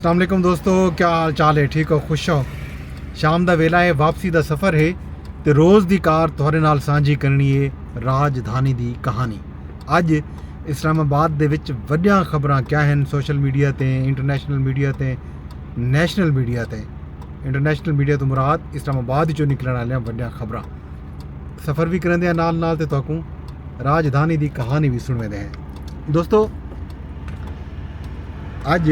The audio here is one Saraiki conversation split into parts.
السلام علیکم دوستو کیا حال چال ہے ٹھیک ہو خوش ہو شام دا ویلا ہے واپسی دا سفر ہے تے روز دی کار تھوڑے نال سانجھی کرنی ہے راج دھانی دی کہانی اج اسلام آباد دے وچ وڈیاں خبراں کیا ہیں سوشل میڈیا تے انٹرنیشنل میڈیا تے نیشنل میڈیا تے انٹرنیشنل میڈیا تو مراد اسلام آباد جو نکلن والیاں وڈیاں خبراں سفر بھی کریندے ہیں نال نال تے تہاکوں راجدھانی دی کہانی بھی سنویندے ہیں دوستو اج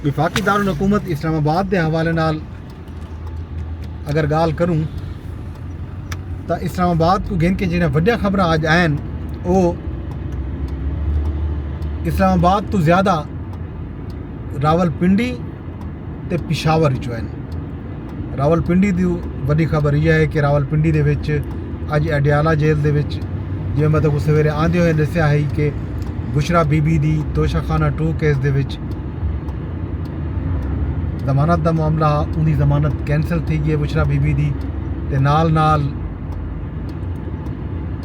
وفاقی دارالحکومت اسلام آباد دے حوالے نال اگر گال کروں تو اسلام آباد کو گھن کے جنہیں وڈیا خبر آج آئین او اسلام آباد تو زیادہ راول پنڈی تے پشاور وچوں ہن۔ راول پنڈی دی وڈی خبر یہ ہے کہ راول پنڈی دے وچ اج اڈیالہ جیل دے وچ جے میں تاکوں سویرے آندے ہوئے دسیا ہئی کہ بشرا بی بی دی توشہ خانہ ٹو کیس دے وچ ضمانت دا معاملہ ہا اون دی ضمانت کینسل تھی گئی ہے بشرا بی بی دی تے نال نال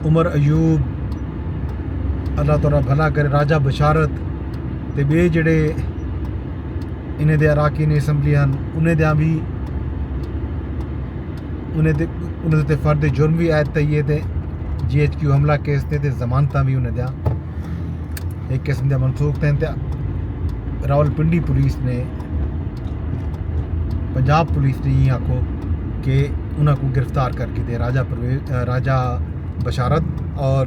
عمر ایوب اللہ تعالی بھلا کرے راجہ بشارت تے بے جڑے انہیں دے اراکین اسمبلی ہن انہیں دیاں وی انہیں دے انہیں دے فرد جرم وی عائد تھئی ہے تے جی ایچ کیو حملہ کیس تے تے ضمانتاں وی انہیں دیاں ایک قسم دے منسوخ تھین تے راول پنڈی پولیس نے پنجاب پولیس نے یہ آکھو کہ انہاں کو گرفتار کر کے دے راجہ پرویز راجہ بشارت اور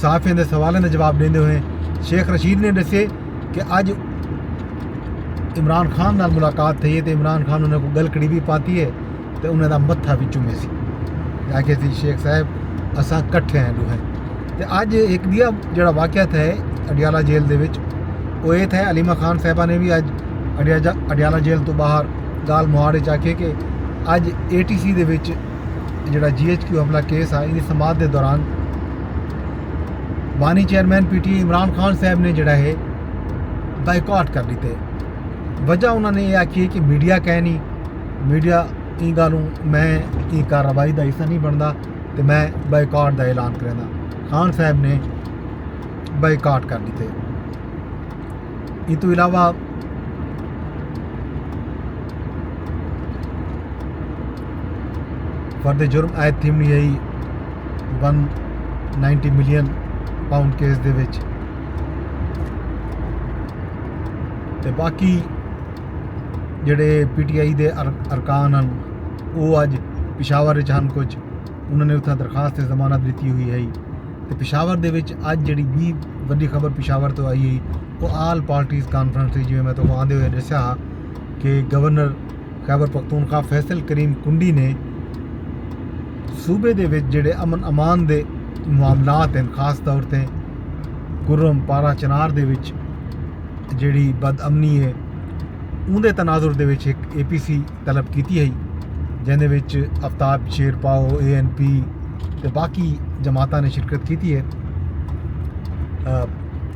صحافیاں دے سوالاں دا جواب ݙیندے ہوئے شیخ رشید نے ݙسے کہ اڄ عمران خان نال ملاقات تھئی ہے تے عمران خان انہاں کوں گلکڑی وی پاتی ہے تے انہاں دا متھا وی چومے سی آکھے سی شیخ صاحب اساں کٹھے ہیں ݙوہیں تے اڄ ایک ٻیا جڑا واقعہ تھا ہے اڈیالہ جیل دے وچ او اے تھا ہے علیمہ خان صاحبہ نے وی اج اڈیالہ جیل تو باہر گال مہاڑ وچ آکھے کہ اج اے ٹی سی دے وچ اے جیڑھا جی ایچ کیو حملہ کیس ہا ایندی سماعت دے دوران بانی chairman P T I Imran Khan صاحب نے جیڑھا ہے بائیکاٹ کر ݙتے وجہ انہاں نے اے آکھی ہے کہ میڈیا کینی میڈیا ایں گالوں میں ایں کارروائی دا حصہ نہیں بݨدا تے میں بائیکاٹ دا اعلان کریندا خان صاحب نے بائیکاٹ کر ݙتے ایں توں علاوہ فرد جرم عائد تھیم نہیں آئی one ninety million pound case دے وچ تے باقی جڑے پی ٹی آئی دے ارکان ہن وہ اج پشاور وچ ہن کچھ انہوں نے اتنا درخواست ضمانت دیتی ہوئی ہے تے پشاور دے وچ اج جڑی بھی وڈی خبر پشاور تو آئی ہے وہ آل پارٹیز کانفرنس تھی جویں میں تو آندے ہوئے ڈسیا ہا کہ گورنر خیبرپختونخوا فیصل کریم کنڈی نے صوبے دے وچ جڑے امن امان دے معاملات ہیں خاص طور تے گرم پارا چنار دے وچ جڑی بد امنی ہے اون دے تناظر دے وچ ایک اے پی سی طلب کیتی ہے جن دے وچ افتاب شیر پاؤ اے این پی تے باقی جماعتاں نے شرکت کیتی ہے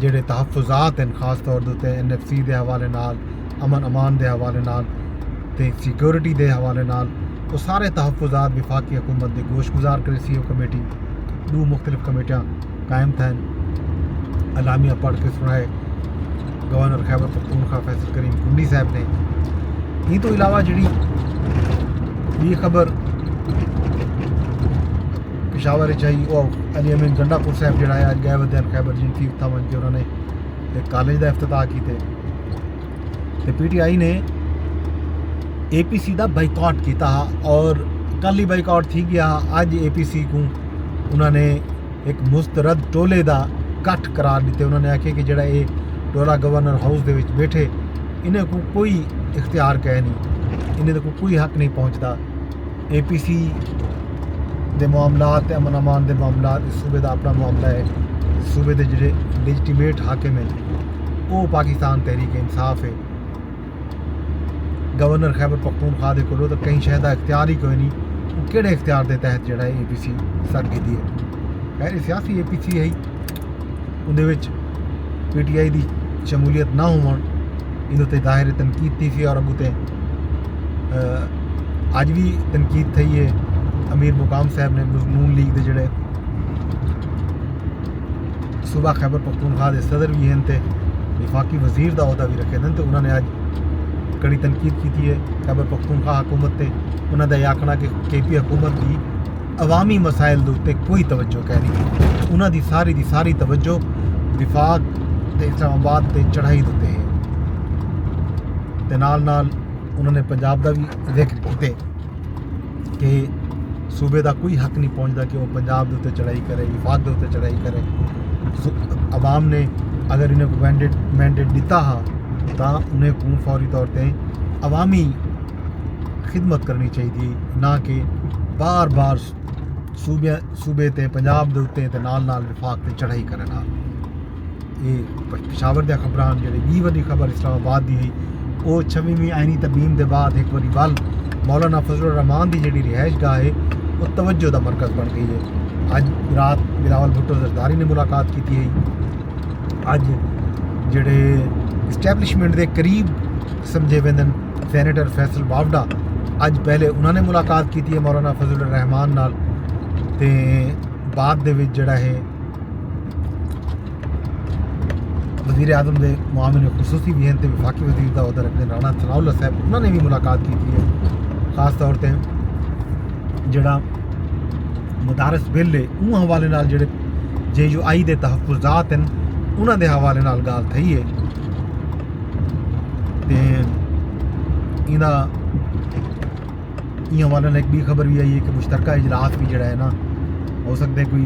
جیڑھے تحفظات ہن خاص طور دے اتے این ایف سی دے حوالے نال امن امان دے حوالے نال تے سیکورٹی دے حوالے نال او سارے تحفظات وفاقی حکومت دے گوش گزار کرے سی او کمیٹی دو مختلف کمیٹیاں قائم تھین اعلامیہ پڑھ کے سنائے گورنر خیبر پختونخوا فیصل کریم کنڈی صاحب نے یہ تو علاوہ جڑی یہ خبر پشاور اچ ہئی او علی امین گنڈا پور صاحب جڑا ہے اج گئے ودے ہیں خیبر جی تھی اتھا ونج کے انہوں نے ایک کالج دا افتتاح کیتے تے پی ٹی آئی نے اے پی سی دا بائیکاٹ کیتا ہا اور کل ہی بائیکاٹ تھی گیا ہا اج اے پی سی کو انہوں نے ایک مسترد ٹولے دا کٹھ قرار دیتے انہوں نے آکھے کہ جڑا اے ٹولا گورنر ہاؤس دے وچ بیٹھے انہیں کو کوئی اختیار کہے نہیں انہیں کو کوئی حق نہیں پہنچتا اے پی سی دے معاملات تے امن امان دے معاملات اس صوبے دا اپنا معاملہ ہے صوبے دے جڑے لیجٹیمیٹ حاکم ہیں وہ پاکستان تحریک انصاف ہے گورنر خیبر پختونخوا دے کولو تو کہیں شہدہ اختیار ہی کوئی نہیں وہ کیڑے اختیار دے تحت جڑا ہے اے پی سی سر کی دی ہے خیر سیاسی اے پی سی ہے اوندے وچ پی ٹی آئی دی شمولیت نہ ہووݨ ایندے تے ظاہر تنقید تھی سی اور اگوں تے اڄ وی تنقید تھئی ہے امیر مقام صاحب نے نون لیگ دے جڑے صوبہ خیبر پختونخوا دے صدر وی ہن تے وفاقی وزیر دا عہدہ وی رکھے دن تے انہاں نے اج کڑی تنقید کیتی ہے خیبر پختونخوا حکومت تے انہاں دا یہ آکھنا کہ کے پی حکومت دی عوامی مسائل دے اتے کوئی توجہ کینی انہاں دی ساری دی ساری توجہ وفاق تے اسلام آباد تے چڑھائی دے اتے ہے تے نال نال انہوں نے پنجاب دا بھی ذکر کیتے کہ صوبے دا کوئی حق نہیں پہنچتا کہ وہ پنجاب دے اتے چڑھائی کرے وفاق دے اتے چڑھائی کرے عوام نے اگر انہیں کو مینڈیٹ مینڈیٹ دیتا ہا تاں انہیں کو فوری طور تے عوامی خدمت کرنی چاہیے نہ کہ بار بار صوبے تے پنجاب دے اتے تے نال نال وفاق تے چڑھائی کرن ہا اے پشاور دیا خبران جڑے بی وڈی خبر اسلام آباد دی ہی او چھویمی آئینی تبین دے بعد ایک وڈی بل مولانا فضل الرحمان دی جڑی رہائش گاہ ہے او توجہ دا مرکز بن گئی ہے اج رات بلاول بھٹو زرداری نے ملاقات کی تھی ہے اج جڑے اسٹیبلشمنٹ دے قریب سمجھے ویندن سینیٹر فیصل باوڈا اج پہلے انہاں نے ملاقات کیتی ہے مولانا فضل الرحمان نال تے بعد دے وچ جڑا ہے وزیر اعظم دے معاملے خصوصی بھی ہیں تے وفاقی وزیر دا عہدہ رکھنے رانا ثناء اللہ صاحب انہاں نے بھی ملاقات کیتی ہے خاص طور تے جڑا مدارس بل ہے اون حوالے نال جڑے جے یو آئی دے تحفظات ہیں انہاں دے حوالے نال گال تھئی ہے تے ایندا ایہ حوالے نال ہک ٻی خبر وی آئی ہے کہ مشترکہ اجلاس وی جیڑھا ہے نا ہو سکدے کوئی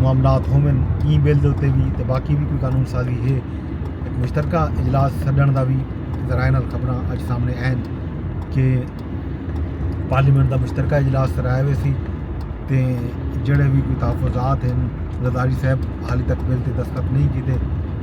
معاملات ہوون ای بل دے اتے وی تے باقی وی کوئی قانون سازی ہے ہک مشترکہ اجلاس سݙݨ دا وی ذرائع نال خبراں اڄ سامݨے آئن کہ پارلیمنٹ دا مشترکہ اجلاس کرایا ویسی تے جیڑھے وی کوئی تحفظات ہن زرداری صاحب حالی تک بل تے دستخط نہیں کیتے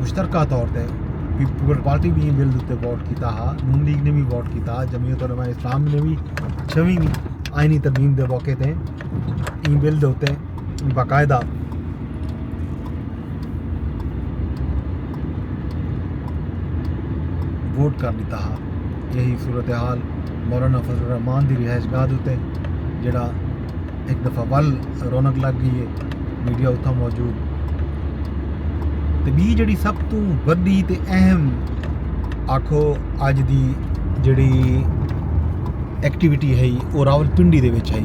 مشترکہ طور تے پیپلز پارٹی بھی بل تے ووٹ کیتا ہا نون لیگ نے بھی ووٹ کیتا ہا جمعیت علماء اسلام نے بھی چھویں آئینی ترمیم دے موقع تے این بل دے اتے باقاعدہ ووٹ کر دیتا ہا یہی صورتحال مولانا فضل الرحمان دی رہائش گاہ دے اتے جڑا ایک دفعہ ول رونق لگ گئی ہے میڈیا اتھا موجود تے بی جڑی سب تو بڑی تے اہم آکھو اج دی جڑی ایکٹیویٹی ہے وہ راول پنڈی دے وچ ہے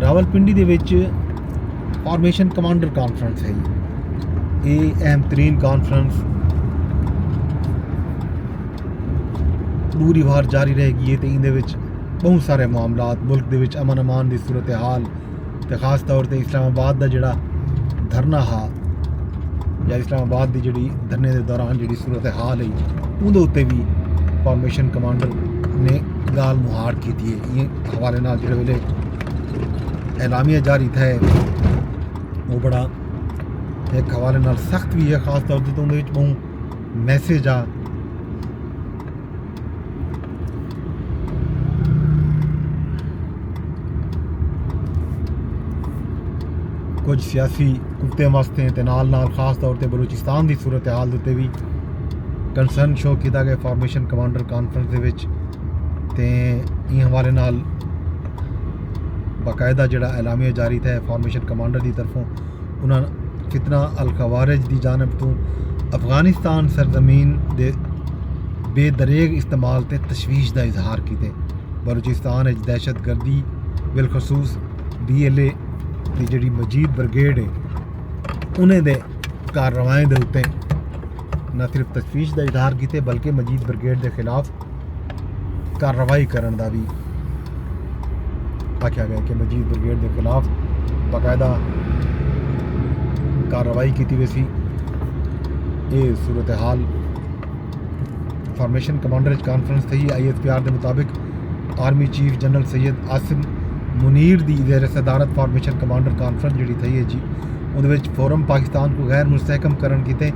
راول پنڈی دے وچ فارمیشن کمانڈر کانفرنس ہے یہ اہم ترین کانفرنس پوری وار جاری رہے گی ہے تے اندے وچ بہوں سارے معاملات ملک دے وچ امن امان دی صورتحال تے خاص طور تے اسلام آباد دا جیڑھا دھرنا ہا یا اسلام آباد دی جیڑھی دھرنے دے دوران جیڑھی صورتحال ہی اون دے اتے بھی فارمیشن کمانڈر نے گال مہار کی تھی ہے یہ حوالے نال جیڑھے ویلے اعلامیہ جاری تھا ہے وہ بڑا ایک حوالے نال سخت بھی ہے خاص طور تے تو اون دے وچ بہوں میسج آ کچھ سیاسی کتے مست ہیں نال نال خاص طور پہ بلوچستان دی صورتحال دے بھی کنسرن شو کیتا گیا فارمیشن کمانڈر کانفرنس دے وچ تے این حوالے نال باقاعدہ جڑا اعلامیہ جاری تھا فارمیشن کمانڈر دی طرفوں انہاں فتنہ الخوارج دی جانب توں افغانستان سرزمین دے بے دریغ استعمال تے تشویش دا اظہار کیتے۔ بلوچستان اچ دہشت گردی بالخصوص بی ایل اے دی جیڑھی مجید بریگیڈ ہے انہیں دے کارروائیں دے اتے نہ صرف تشویش دا اظہار کیتے بلکہ مجید بریگیڈ دے خلاف کارروائی کرݨ دا وی آکھیا ڳئے کہ مجید بریگیڈ دے خلاف باقاعدہ کارروائی کیتی ویسی اے صورتحال فارمیشن کمانڈر اچ کانفرنس تھئی آئی ایس پی آر دے مطابق army chief general Syed Asim Munir دی زیر صدارت فارمیشن کمانڈر کانفرنس جڑی تھئی اے جی اودے وچ فورم پاکستان کو غیر مستحکم کرن کیتے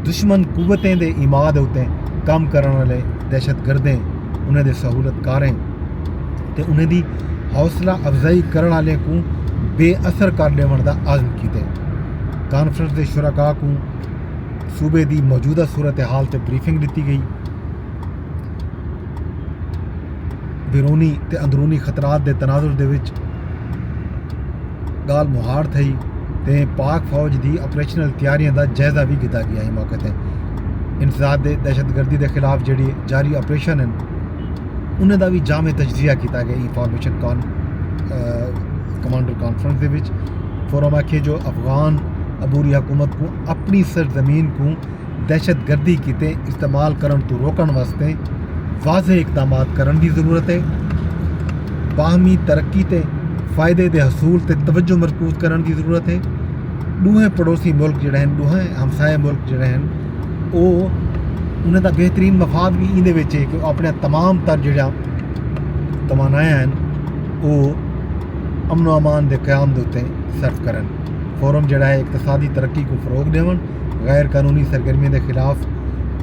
دشمن قوتیں دے اماد اتے کم کرن والے دہشت گردیں انہیں دے سہولت کاریں تے انہیں دی حوصلہ افزائی کرن والے کو بے اثر کر دیون دا عزم کیتے کانفرنس دے شرکا کو صوبے دی موجودہ صورتحال تے بریفنگ دیتی گئی بیرونی تے اندرونی خطرات دے تناظر دے وچ ڳالھ مہاڑ تھئی تے پاک فوج دی آپریشنل تیاریاں دا جائزہ وی گھدا گیا ہی موقع تے انسداد دے دہشت گردی دے خلاف جڑی جاری آپریشن ہیں انہیں دا بھی جامع تجزیہ کیتا گیا انفارمیشن کان کمانڈر کانفرنس دے وچ فورم آکھیے جو افغان عبوری حکومت کو اپنی سرزمین کو دہشت گردی کیتے استعمال کرنڑ توں روکنڑ واسطے واضح اقدامات کرنڑ دی ضرورت اے، باہمی ترقی تے فائدے دے حصول تے توجہ مرکوز کرنڑ دی ضرورت اے، ڈوہیں پڑوسی ملک جیڑھے ہن، ڈوہیں ہمسایہ ملک جیڑھے ہن او انہاں دا بہترین مفاد وی ایندے وچ اے کہ او اپنڑیاں تمام تر جیڑھیاں توانایاں ہن او امن و امان دے قیام دے اتے صرف کرن، فورم جیڑھا اے اقتصادی ترقی کوں فروغ ڈیونڑ۔ غیر قانونی سرگرمیاں دے خلاف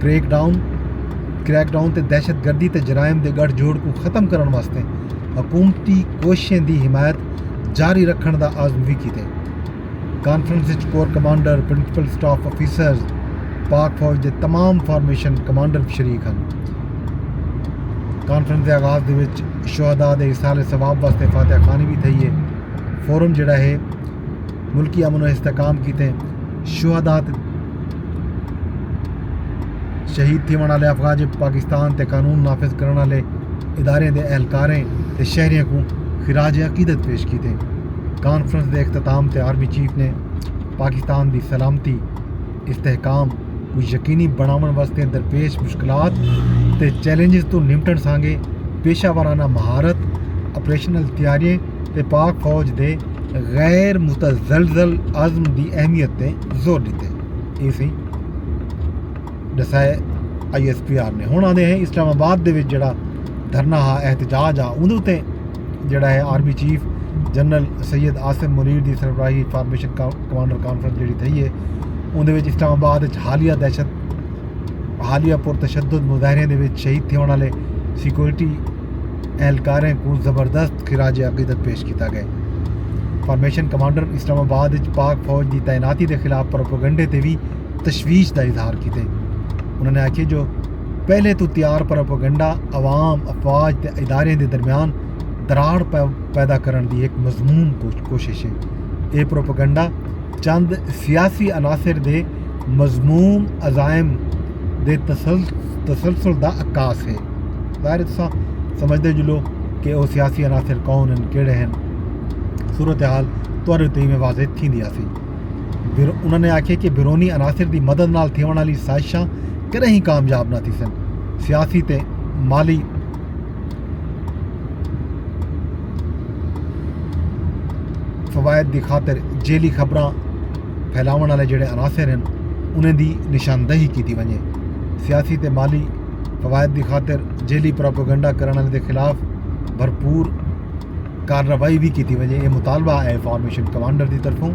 کریک ڈاؤن کریک ڈاؤن تے دہشت گردی تے جرائم دے گٹھ جوڑ کو ختم کرݨ واسطے حکومتی کوششیں دی حمایت جاری رکھݨ دا عزم وی کیتے۔ کانفرنس وچ corps commander, principal staff officers, Pak فوج دے تمام فارمیشن کمانڈر وی شریک ہن۔ کانفرنس دے آغاز دے وچ شہداء دے ایصال ثواب واسطے فاتحہ خوانی وی تھئی اے۔ فورم جیڑھا ہے۔ ملکی امن و استحکام کیتے شہدا تے شہید تھیوݨ والے افواج پاکستان تے قانون نافذ کرݨ والے ادارے دے اہلکاریں تے شہریاں کوں خراج عقیدت پیش کیتے کانفرنس دے اختتام تے آرمی چیف نے پاکستان دی سلامتی استحکام کو یقینی بناون واسطے درپیش مشکلات تے چیلنجز تو نمٹن سانگے پیشہ وارانہ مہارت آپریشنل تیاریاں تے پاک فوج دے غیر متزلزل عزم دی اہمیت تے زور ݙتے اے سی ݙسائے آئی ایس پی آر نے ہن آندے ہیں اسلام آباد دے وچ جڑا دھرنا ہا احتجاج ہا اون تے جڑا ہے army chief general Syed Asim Munir دی سربراہی فارمیشن کمانڈر کانفرنس جڑی تھئی ہے اون دے وچ اسلام آباد وچ حالیہ دہشت حالیہ پر تشدد مظاہرے دے وچ شہید تھیوݨ والے سیکورٹی اہلکاریں کوں زبردست خراج عقیدت پیش کیتا گئے۔ فارمیشن کمانڈر اسلام آباد اچ پاک فوج دی تعیناتی دے خلاف پروپیگنڈے تے وی تشویش دا اظہار کیتے۔ انہاں نے آکھیے جو پہلے توں تیار پروپیگنڈا عوام، افواج تے اداریاں دے درمیان دراڑ پیدا کرݨ دی ہک مذموم کوشش اے۔ اے پروپیگنڈا چند سیاسی عناصر دے مذموم عزائم دے تسلسل دا عکاس ہے۔ ظاہر ہے تساں سمجھدے جلو کہ او سیاسی عناصر کون ہن کیڑے ہن۔ صورتحال تہاڈے اتے ایویں واضح تھیندی آسی۔ انہاں نے آکھیا کہ بیرونی عناصر دی مدد نال تھیونڑ آلی سازشاں کدے ہی کامیاب نہ تھیسن۔ سیاسی تے مالی فوائد دی خاطر جعلی خبراں پھیلاونڑ آلے جیڑھے عناصر ہن انہاں دی نشاندہی کیتی ونجے۔ سیاسی تے مالی فوائد دی خاطر جعلی پروپیگنڈہ کرنڑ آلیں دے خلاف بھرپور کارروائی وی کیتی ونجے اے مطالبہ اے فارمیشن کمانڈر دی طرفوں۔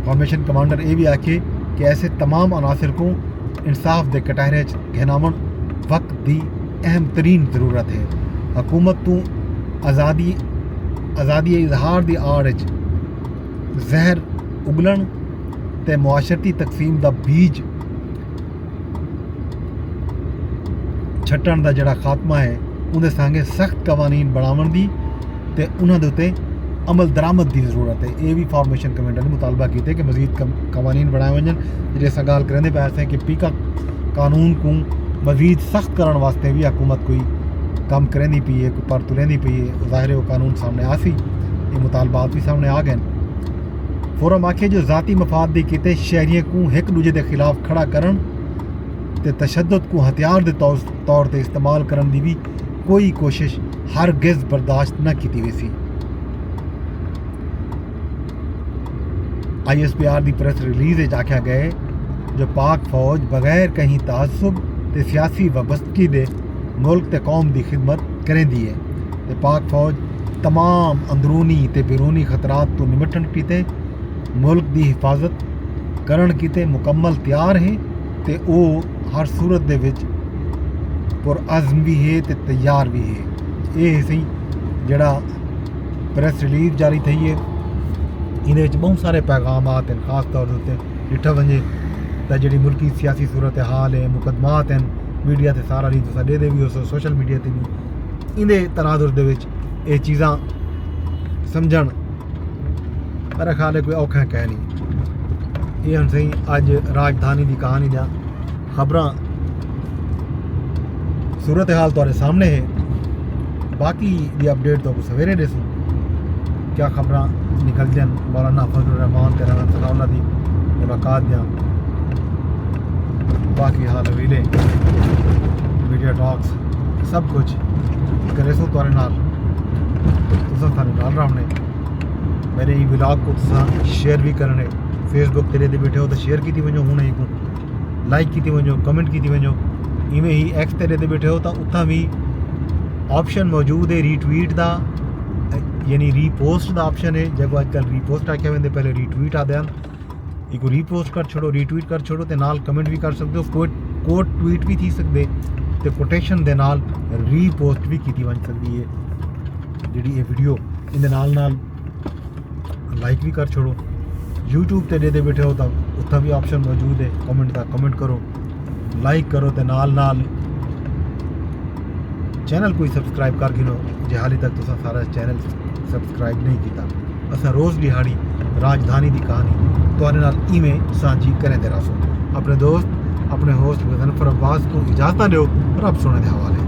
فارمیشن کمانڈر اے وی آکھیے کہ ایسے تمام عناصر کوں انصاف دے کٹہرے اچ گھن آونڑ وقت دی اہم ترین ضرورت اے۔ حکومت توں آزادی آزادی اظہار دی آڑ اچ زہر اگلݨ تے معاشرتی تقسیم دا بیج چھٹݨ دا جیڑھا خاتمہ ہے اوندے سانگے سخت قوانین بݨاوݨ دی تے انہاں دے اتے عمل درآمد دی ضرورت ہے اے وی فارمیشن کمیٹی نے مطالبہ کیتے کہ مزید قوانین بݨائے ونڄن جیڑھے اساں ڳالھ کریندے پئے ہاسے کہ پیکا قانون کوں مزید سخت کرݨ واسطے وی حکومت کوئی کم کریندی پئی ہے پر تلیندی پئی ہے او ظاہر ہے او قانون سامنے آ سی یہ مطالبات بھی سامنے آ گئے فورم آکھے جو ذاتی مفاد دی کیتے شہریوں کو ایک دوجے دے خلاف کھڑا کرن تے تشدد کو ہتھیار دے طور تے استعمال کرن دی بھی کوئی کوشش ہرگز برداشت نہ کیتی ویسی آئی ایس پی آر دی پریس ریلیز وچ آکھیا گئے جو پاک فوج بغیر کہیں تعصب تے سیاسی وابستگی دے ملک تے قوم دی خدمت کریندی اے تے پاک فوج تمام اندرونی تے بیرونی خطرات توں نمٹݨ کیتے ملک دی حفاظت کرݨ کیتے مکمل تیار ہے تے او ہر صورت دے وچ پرعزم وی ہے تے تیار وی ہے اے ہسی جیڑھا پریس ریلیز جاری تھئی اے ایندے وچ بہوں سارے پیغامات ہن خاص طور تے ڈٹھا ونجے تاں جیڑھی ملکی سیاسی صورتحال ہے مقدمات ہیں میڈیا تے سارا ڈینہہ تساں ڈیہدے وی ہوسو سوشل میڈیا تے وی ایندے تناظر دے وچ اے چیزاں سمجھݨ میرا خیال ہے کوئی اوکھا کائنی اے ہن سئیں اج راجدھانی دی کہانی دا خبراں صورت حال تارے سامنے ہے باقی دی اپڈیٹ تو سویرے دے سوں کیا خبراں نکل جن مولانا فضل الرحمان تیرا نام سنا اللہ دی ملاقات دیاں باقی حال ویلے میڈیا ٹاکس سب کچھ کرے سو تارے نال تسان تھانے نال رہنے میرے ہی ولاگ کو تسان شیئر بھی کرنے فیس بک تیرے دے بیٹھے ہو تو شیئر کی تھی بنجو ہونے ہی کن لائک کیتی ونجو کمنٹ کیتی ونجو ایویں ہی ایکس تے ڈے بیٹھے ہو تو اتھاں بھی آپشن موجود ہے ری ٹویٹ دا یعنی ری پوسٹ دا آپشن ہے جب اج کل ری پوسٹ آکھیا ویندے پہلے ری ٹویٹ آدے ہن ایک ری پوسٹ کر چھوڑو ری ٹویٹ کر چھوڑو تے نال کمنٹ بھی کر سکدے ہو کوٹ کوٹ ٹویٹ بھی تھی سکدے تے کوٹیشن دے نال ری پوسٹ بھی کیتی ونج سکدی ہے جڑی اے ویڈیو ان دے نال نال لائک بھی کر چھوڑو یوٹیوب تے ڈیدے بیٹھے ہو تو اتنا بھی آپشن موجود ہے کمنٹ کا کمنٹ کرو لائک کرو تے نال نال چینل کوئی سبسکرائب کر گھنو جی حالی تک تو سارا چینل سبسکرائب نہیں کیتا اسا روز دیہاڑی راجدھانی دی کہانی تہاڈے نال ایویں سانجھی کریں دے راسو اپنے دوست اپنے ہوسٹ غزنفر عباس کو اجازت دیو رب سونے دے حوالے